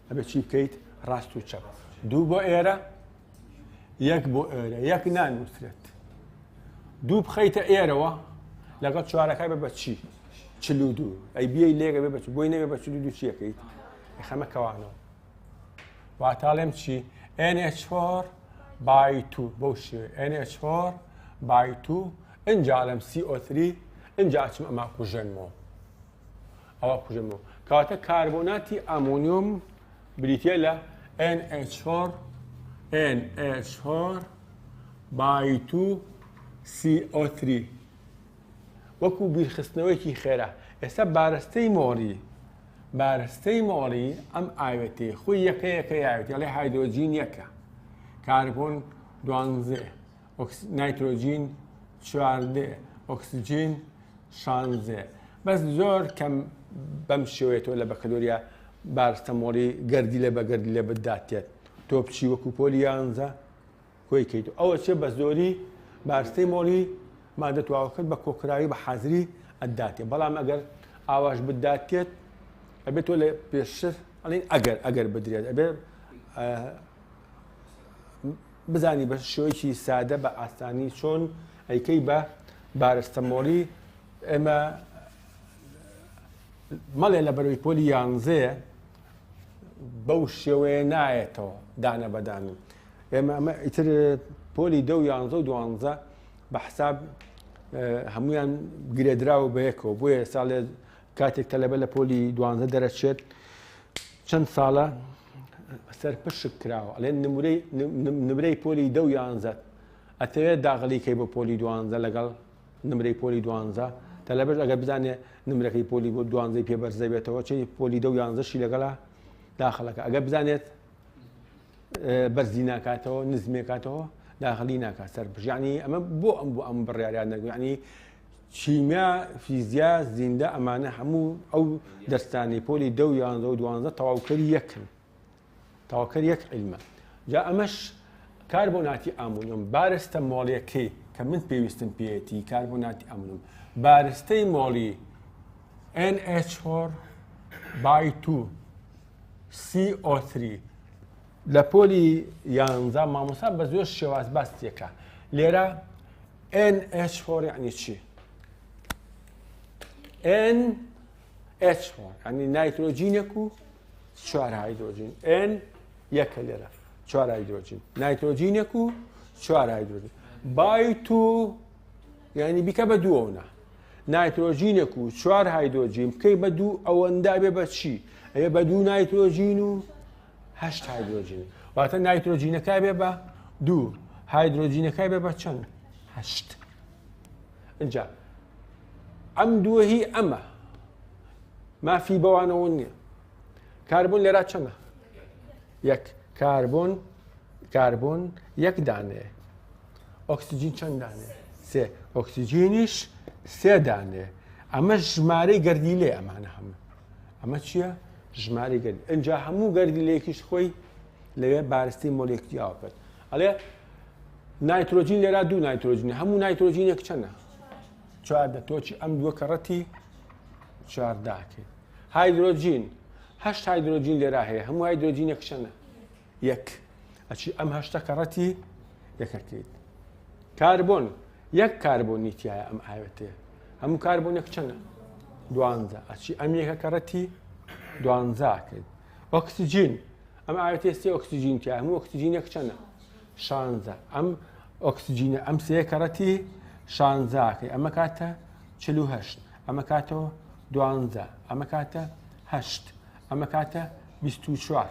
ئەبێ چی بکەیت ڕاست و چەپ دوو بۆ ئێرە یەک بۆ ئێرە یەک نانووسرێت دوو بخەیتە ئێرەوە لەگەڵ چوارەکە بە بەچی چلو دوو ئەی بیە لێگە بێ بەچ بۆی نەبێ بە چلو دوو چیەکەیت خەمە کەوانەوە واتاڵێم چی NH4 بای تو بەو شێ NH4 بای تو ئەنجالم CO3 ئەنجاچم ئەما کوژێنمەوە ئەوە کوژێنەوە کەواتە کاربۆناتی ئەمونیۆم بریتە لە NH4 NH4 بای 2 CO3 وەکو بیرخستنەوەیەکی خێرا ئێستا بارستەی مۆری بارستەی مۆری ئەم ئاوێتی خۆی یەکەیەکە یاوێتی لێ هایدۆجین یەکە کاربۆن دوانزێ نایترۆجین چواردێ ئۆکسسیجین شانزێ بەس زۆر کەم بەم شێوێتەوە لە بەکەلۆریا بارستەمۆڵی گردی لە بەگردی لە بداتێت تۆ بچی وەکو پۆلی یانزە کۆی کەیت ئەوە چێ بە زۆری بارستەی مۆڵی مادە تواوەکرد بە کۆکراوی بە حازری ئەداتێ بەڵام ئەگەر ئاواش بداتێت ئەبێت تۆ لە پێشتر ئەڵین ئەگەر ئەگەر بدرێت ئەبێ بزانی بە شێوەیەکی سادە بە ئاسانی چۆن ئەیکەی بە بارستەمۆڵی ئێمە مەڵێ لە بەرەوەی پۆلی یانزەیە بەو شێوەیە نایەتەوە دانە بەدانن ئێمە ئەمە ئیتر پۆلی دە و یانزە و دوانزە بە حساب هەمویان گرێدراوە بەیەکەوە بۆیە ساڵێ کاتێک تەلەبە لە پۆلی دوانزە دەرەچێت چەند ساڵە سەرپشک کراوە ئەڵێ نمرەی پۆلی دە و یانزەت ئەتەوێت داغلیکەی بۆ پۆلی دوانزە لەگەڵ نمرەی پۆلی دوانزە تەلەبەش ئەگەر بزانێ نمرەکەی پۆلی بۆ دوانزەی پێ بەرزە بێتەوە چی پۆلی دە و یانزەشی لەگەڵا داخلەکە ئەگەر بزانێت بەرزی ناکاتەوە نزمێکاتەوە داخلی ناکات سەر بژانی ئەمە بۆ ئەم بۆ ئەم بڕیاریان نەگویانی کیمیا فیزیا زیندە ئەمانە هەموو ئەو دەرسانی پۆلی دە و یانزە و دوانزە تەواوکەری یەکن تەواوکەر یەک علمە جا ئەمەش کار بۆ ناتی ئامونم بارستە مۆڵیەکەی کە من پێویستم پێەتی کار بۆ ناتی ئەمنم بارستەی مۆڵی NH4 بای 2 CO3 لە پۆلی یانزە مامۆسا بە زۆر شێواز باس تێکە لێرە ئەن ئەچ فۆر یعنی چی؟ ئەن ئەچ فۆر ینی نایترۆجینێک و چوار هایدرۆجین ئەن یەکە لێرە چوار هایدرۆجین نایترۆجینێک و چوار هایدرۆجین بای تو یعنی بیکە بە دووەونە نایترۆجینێک و چوار هایدۆجین بکەی بە دوو ئەوەندابێ بە چی ئەێ بە دوو نایترۆجین و هەشت هایدرۆجین واتە نایترۆجینەکە بێ بە دوو هایدرۆجینەکە بێ بە چەند هەشت اینجا ئەم دووە هی ئەمە مافی بەوانەوە نییە کاربوون لێرا چەمە یەک کاربوون کاربوون یەک دانێ ئۆکسسیجین چەند دانێ سێ ئۆکسسیجینیش سێ دانێ ئەمە ژمارەی گردی لێ ئەمانە هەموو ئەمە چییە؟ ژماری گەرد ئەجا هەموو گەردی لەیەکیش خۆی لەوێ بارستی مۆلێکتیاوە کرد ئەڵێ نایترۆجین لێرا دوو نایترۆجینی هەموو نایترۆجینێک چەنە چواردە تۆچی ئەم دووە کەڕەتی چوارداکەین هایدرۆجین هەشت هایدرۆجین لێرا هەیە هەموو هایدرۆجینێک چەنە یەک ئەچی ئەم هەشتە کەڕەتی یەکەکەیت کاربۆن یەک کاربۆنی تایە ئەم ئاوێتێ هەموو کاربۆنێک چەنە دوانزە ئەچی ئەم یەکە کەڕەتی دوانزاکەیت ئۆکسسیجین ئەم ئاوێتێ سێ ئۆکسسیجین تیا هەموو ئۆکسسیجینێک چەنە شانزە ئەم ئۆکسسیجینە ئەم سێ کەڕەتی شانزاکەی ئەمە کاتە چلوهشت ئەمە کاتەوە دوانزە ئەمە کاتە هەشت ئەمە کاتە بیست و چوار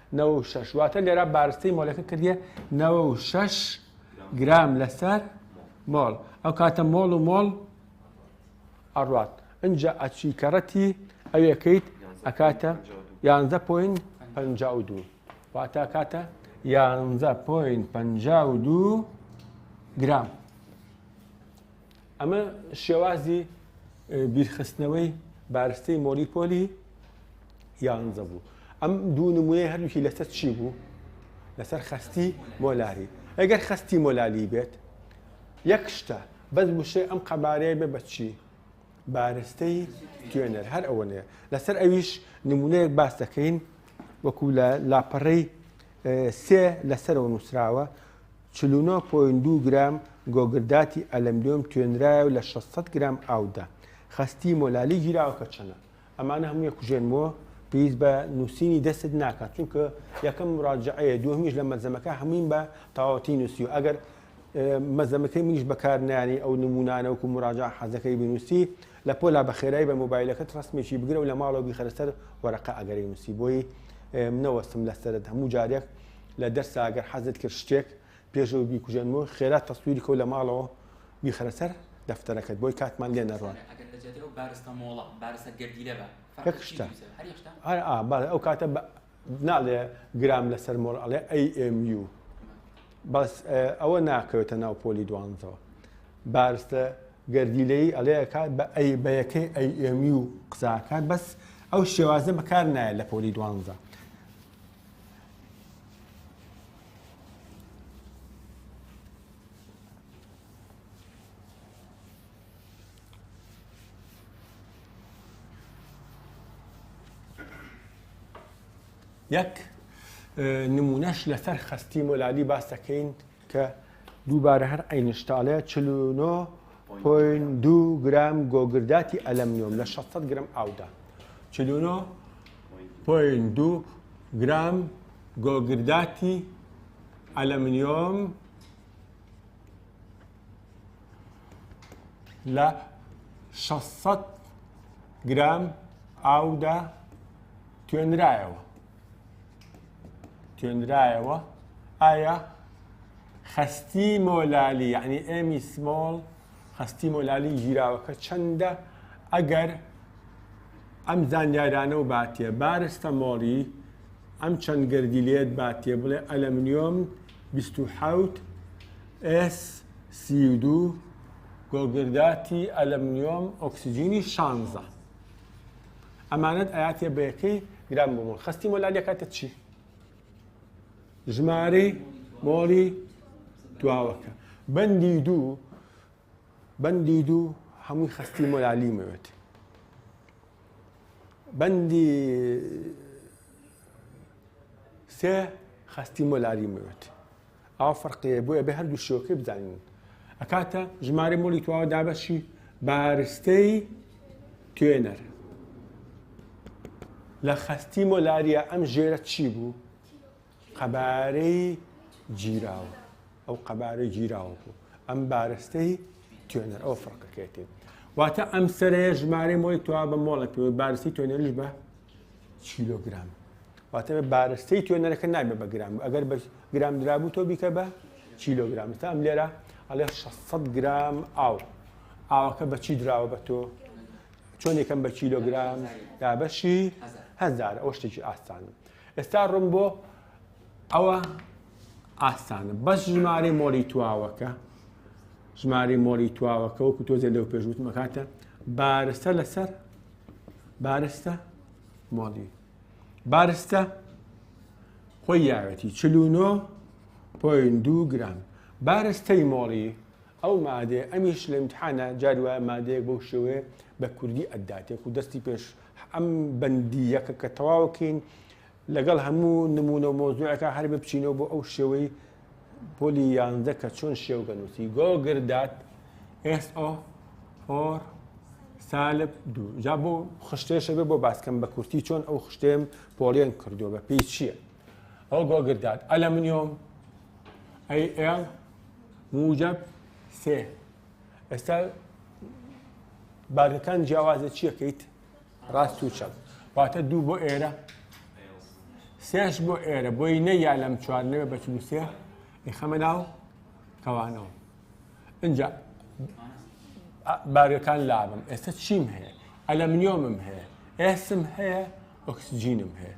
نەوەد و شەش، واتە لێرە بارستەی مۆلەکە کردیە نەوەد و شەش گرام لەسەر مۆڵ ئەو کاتە مۆڵ و مۆڵ ئەڕات ئەجا ئەچی کەڕەتی ئەوێکەیت ئەکاتە یانزە پوین پ دوو واتا کاتە یانزە پوین پ دوو گرام. ئەمە شێوازی بیرخستنەوەی بارستەی مۆری پۆلی یانزە بوو ئەم دوو نمونەی هەردووکی لەسەر چی بوو لەسەر خستی مۆلاری ئەگەر خستی مۆلالی بێت یەک شتە بەس وشەی ئەم قەبارەیە بێ بەچی بارستەی توێنەر هەر ئەوە نێ لەسەر ئەویش نمونەیەک باس دەکەین وەکو لە لاپەڕەی سێ لەسەرەوە نووسراوە چل و نۆ پۆینت دوو گرام گۆگرداتی ئەلەمنیۆم توێنرایەو لە شەش سەد گرام ئاودا خەستی مۆلالی گیراوە کە چەنە؟ ئەمانە هەمووی کوژێنمەوە پێویست بە نووسینی دەستت ناکات چونکە یەکەم مراجعەیە دووهەمیش لە مەلزەمەکە هەموویم بە تەواوەتی نووسیوە ئەگەر مەلزەمەکەی منیش بەکار نایەنەی ئەو نموونانە وەکو مراجعە حەزەکەی بنووسی لە پۆلا بە خێرای بە مۆبایلەکەت ڕەسمێکی بگرە و لە ماڵەوە بیخەرە سەر وەرەقە ئەگەرەی نووسی بۆی منەوەستم لە سەرت هەموو جارێک لە دەرسا گەر حەزت کرد شتێک پێشەوە بیکوژێنمەوە خێرا تەسویری کەو لە ماڵەوە بیخەرە سەر دەفتەرەکەت بۆی کاتمان لێ نەڕوات بارستە مۆڵە بارستە گەردیلە بە یەک شتە ئەو کاتە ناڵێ گرام لەسەر مۆر ئەڵێ AMU بەس ئەوە ناکەوێتە ناو پۆلی دوانزەوە بارستە گەردیلەی ئەڵەیەکات بە ئەی بەیەکەی ئەیمی و قساکات بەس ئەو شێوازە بەکار نایە لە پۆلی دوانزە یەک نمونەش لەسەر خەستی مۆلالی باس دەکەین کە دووبارە هەر ئەینشتاڵێ چلونۆ پوین دوو گرام گۆگرداتی ئەلەمنیۆم لە 600 گرم ئاودا چلونۆ پوین دوو گرام گۆگرداتی ئەلەمنیۆم لە شەست سەد گرام ئاودا توێنرایەوە توێنرایەوە ئایا خەستی مۆلالی یعنی ئێمی سمۆڵ خەستی مۆلالی گیراوەکە چەندە ئەگەر ئەم زانیارانە و باتێ بارستە مۆڵی ئەم چەند گردی لێت باتێ بڵێ ئەلەمنیۆم 26 ئێس سی و دوو گۆگرداتی ئەلەمنیۆم ئۆکسجینی شانزە ئەمانەت ئەیاتێ بە یەکەی گرام بۆ مۆڵ خەستی مۆلان یەکاتە چی ژمارەی مۆڵی دواوەکە بەندی دوو بەندی دوو هەمووی خەستی مۆلالی مەوێت بەندی سێ خەستی مۆلاری مەوێت ئاوا فەرقێ بۆ ئەبێ هەردوو شێوەکەی بزانین ئەکاتە ژمارە مۆلی تواوە دابەشی بارستەی توێنەر لە خەستی مۆلاریە ئەم ژێرە چی بوو قەبارەی گیراوە ئەو قەبارەی گیراوە بوو ئەم بارستەی توێنەر ئەو فڕقەکەێتی واتە ئەم سەرەیە ژمارە مۆی توا بە مۆڵە پێ بارسی توێنەریش بە کیلۆگرام واتە بارستەی توێنەرەکە نابێ بە گرام ئەگەر بە گرام درابوو تۆ بیکە بە کیلۆگرام تا ئەم لێرە ئەڵێ 600 گرام ئاو ئاوەکە بەچی دراوە بە تۆ چۆن یەکەم بە کیلۆگرام دابەشی هەزار ئەو شتێکی ئاستان ئێستا ڕم بۆ ئەوە ئاستانە بەس ژمارە مۆری تواوەکە ژماری مۆری تواوەکە وەکو تۆزێ لەو پێشوتمەکاتە بارستە لەسەر بارستە مۆڵی بارستە خۆی یاوێتی چلوونۆ پۆین دوو گران بارستەی مۆڵی ئەو مادێ ئەمیش لە امتحانە جاری وایە مادەیەک بەو شێوێ بە کوردی ئەداتێک و دەستی پێش ئەم بەندی یەکە کە تەواوکەین لەگەڵ هەموو نموونە و مەوزوعێکا هەر بپچینەوە بۆ ئەو شێوەی پۆلی یانزدە کە چۆن شێوگە نووسی گۆگر دات ئێس ئۆ هۆر سالب دوو جا بۆ خشتێشە بێ بۆ باسکەم بە کورتی چۆن ئەو خشتێم پۆڵێن کردووە بە پێی چییە ئەو گۆگردات ئەلە منۆم ئەی ئێڵ موجب سێ ئێستا بارەکان جیاوازە چیەکەیت ڕاست و چەپ واتە دوو بۆ ئێرە سێش بۆ ئێرە بۆی نەیا لەم چوار نەوێ بە چل و سێ ئیخەمە ناو کەوانەوە اینجا بارەکان لابم ئێستا چیم هەیە ئەلەمنیۆمم هەیە ئێسم هەیە ئۆکسجینم هەیە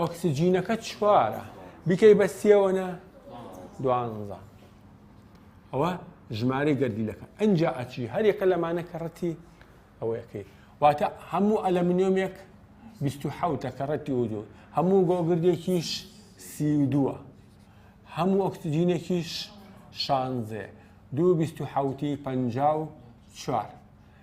ئۆکسجینەکە چوارە بیکەی بە سیەوە نە دوانزە ئەوە ژمارەی گەردیلەکە ئەجا ئەچی هەرێکە لەمانە کە ڕەتی ئەوەیەکەی واتە هەموو ئەلەمنیۆمێک 1970 کە ڕەتی ودو هەموو گۆگردێکیش سی دووە هەموو ئۆکسجینێکیش شانزێ دوو بیست و حوتی پەنجا و چوار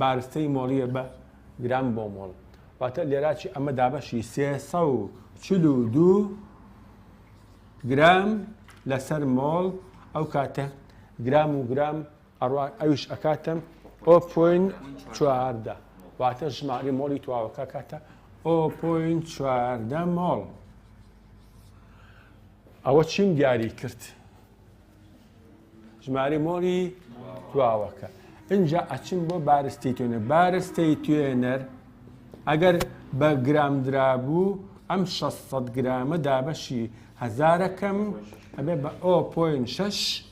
بارستەی مۆڵیە بە گرام بۆ مۆڵ واتە لێراچی ئەمە دابەشی سێ سە و چل و دوو گرام لەسەر مۆڵ ئەو کاتە گرام و گرام ئەڕوا ئەوش ئەکاتم ئۆ پوین چواردە واتە ژماری مۆڵی تواوەکە کاتە ئۆ پوین چواردە مۆڵ ئەوە چیم دیاری کرد ژماری مۆری دواوەکە ئینجا ئەچم بۆ بارستی توێنە بارستی توێنەر ئەگەر بە گرام درابوو ئەم 600 گرامە دابەشی هزارەکەم ئەبێ بە ئۆ پوین 6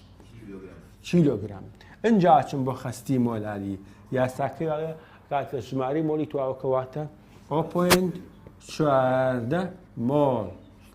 کیلوگرام ئەجا چم بۆ خستی مۆلالی یاساکەی کاتە ژماری مۆلی تواوەکەواتە ئۆ پوین چواردە مۆل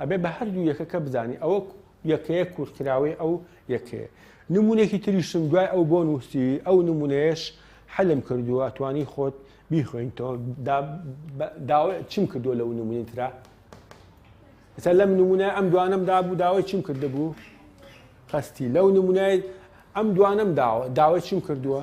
ئەبێ بە هەردوو یەکەکە بزانی ئەوە یەکەیە کورتکراوەی ئەو یەکەیە نمونێکی تریشم دوای ئەو بۆ نووسی ئەو نمونەیەش حەلم کردووە توانی خۆت بیخۆینتەوە چم کردو لەو نمونین تررا ئستا لەم نمونە ئەم دوانم دابوو داوای چم کرد بوو قستی لەو نمونای ئەم دوانم داوە داوای چم کردووە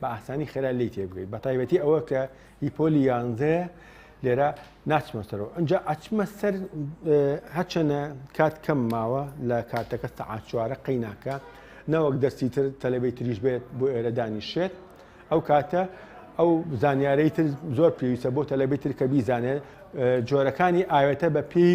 بە ئاسانی خێرا لێی تێبگەیت بە تایبەتی ئەوە کە هی پۆلی یانزەیە لێرە ناچمە سەرەوە ئەجا ئەچمە سەر هەچەنە کات کەم ماوە لە کاتەکە سەعات چوارە قەیناکە نەوەک دەستی تر تەلەبەی تریش بێت بۆ ئێرە دانیشێت ئەو کاتە ئەو زانیارەی تر زۆر پێویستە بۆ تەلەبەی تر کە بیزانێت جۆرەکانی ئاوێتە بە پێی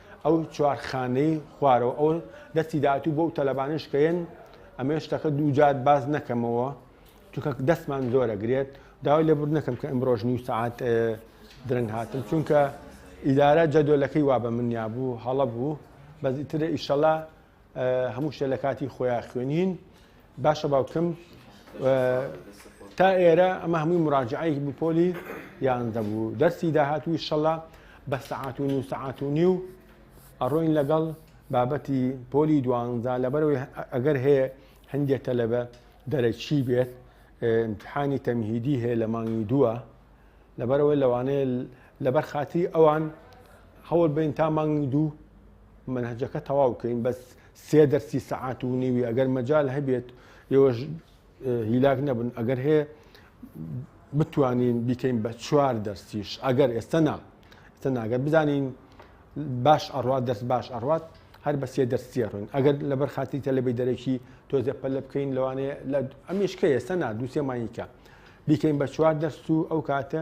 ئەو چوار خانەی خوارەوە ئەو دەستی داهاتوو بۆ ئەو تەلەبانەش کە یەن ئەمەیە شتەکە دوو جار باز نەکەمەوە چونکە دەستمان زۆرە گرێت داوای لێ بوو نەکەم کە ئەمڕۆژ نیو سعات درەنگ هاتم چونکە ئیدارە جەدۆلەکەی وا بە منیا بوو هەڵە بوو بەزیترە ئیشەڵا هەموو شتە لە کاتی خۆیان خوێنین باشە باوکم تا ئێرە ئەمە هەمووی مراجعەیەک بوو پۆلی یانزە بوو دەرسی داهات و شەڵا بە سەعات و نو سەعات و نیو ئەڕۆین لەگەڵ بابەتی پۆلی دوانزا لەبەرەوەی ئەگەر هەیە هەندێک تەلەبە دەرەکی بێت امتحانی تەمهیدی هەیە لە مانگی دووە لەبەرەوەی لەوانەیە لەبەر خاتی ئەوان هەوڵ بین تا مانگی دوو منهجەکە تەواو بکەین بەس سێ دەرسی سەعات و نیوی ئەگەر مەجال هەبێت ئێوەش هیلاک نەبن ئەگەر هەیە بتوانین بیکەین بە چوار دەرسیش ئەگەر ئێستا نا ئێستا ناگەر بزانین باش ئەڕات دەست باش ئەڕات هەر بە سێ دەرسیە ڕوین ئەگەر لەبەر خاتی تەلەبی دەرەکی تۆزێ پەلە بکەین لەوانەیە لە ئەمیشکە ئێستا نا دووسێ مانیکە بیکەین بە چوار دەرس و ئەو کاتە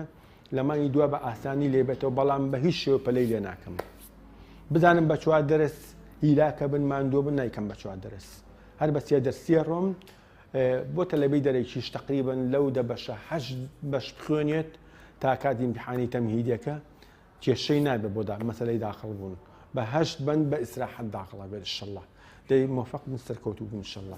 لە مانگی دوا بە ئاسانی لێبێتەوە بەڵام بە هیچ شێوە پەلەی لێ ناکەم بزانم بە چوار دەرس هیلاکە بن ماندووە بن نیکەم بە چوار دەرس هەر بە سێ دەرسیە ڕۆم بۆ تەلەبی دەرەکیش تقریبن لەو دە بەشە هەش بەش بخوێنێت تا کاتی امتحانی تەمهیدەکە کێشەی نابێت بۆ دا مەسلەی داخڵ بوون بە هەشت بند بە ئیسراحەت داخڵە بێت شله دەی مۆفەق بن سەرکەوتوو بن شەڵڵا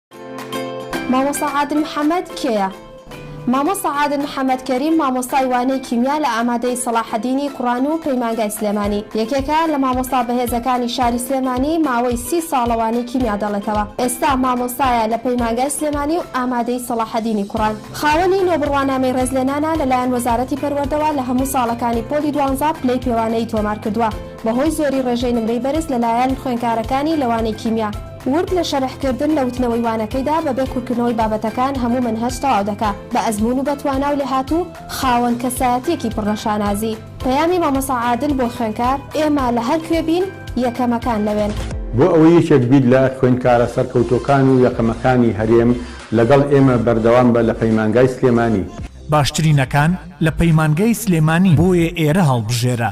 مامۆستا عادل محەمەد کێیە؟ مامۆستا عادل محەمەد کەریم مامۆستای وانەی کیمیا لە ئامادەیی سەڵاحەدینی کوڕان و پەیمانگای سلێمانی یەکێکە لە مامۆستا بەهێزەکانی شاری سلێمانی ماوەی سی ساڵە وانەی کیمیا دەڵێتەوە ئێستا مامۆستایە لە پەیمانگای سلێمانی و ئامادەیی سەڵاحەدینی کوڕان خاوەنی نۆ بڕوانامەی ڕێزلێنانە لەلایەن وەزارەتی پەروەردەوە لە هەموو ساڵەکانی پۆلی دوانزە پلەی پێوانەیی تۆمارکردووە بەهۆی زۆری ڕێژەی نمرەی بەرز لەلایەن خوێنکارەکانی لە وانەی کیمیا. ورد لە شەرح کردن لە وتنەوەی وانەکەیدا بە بێ کورکردنەوەی بابەتەکان هەموو مەنهەج تەواو دەکا بە ئەزموون و بە توانا و لێهاتوو خاوەن کەسایەتیەکی پڕ لە شانازی پەیامی مامۆستا عادل بۆ خوێنکار ئێمە لە هەر کوێ بین یەکەمەکان لەوێن. بۆ ئەوەی یەکێک بیت لە خوێنکارە سەرکەوتووەکان و یەکەمەکانی هەرێم لەگەڵ ئێمە بەردەوام بە لە پەیمانگای سلێمانی. باشترینەکان لە پەیمانگای سلێمانی بۆیە ئێرە هەڵبژێرە.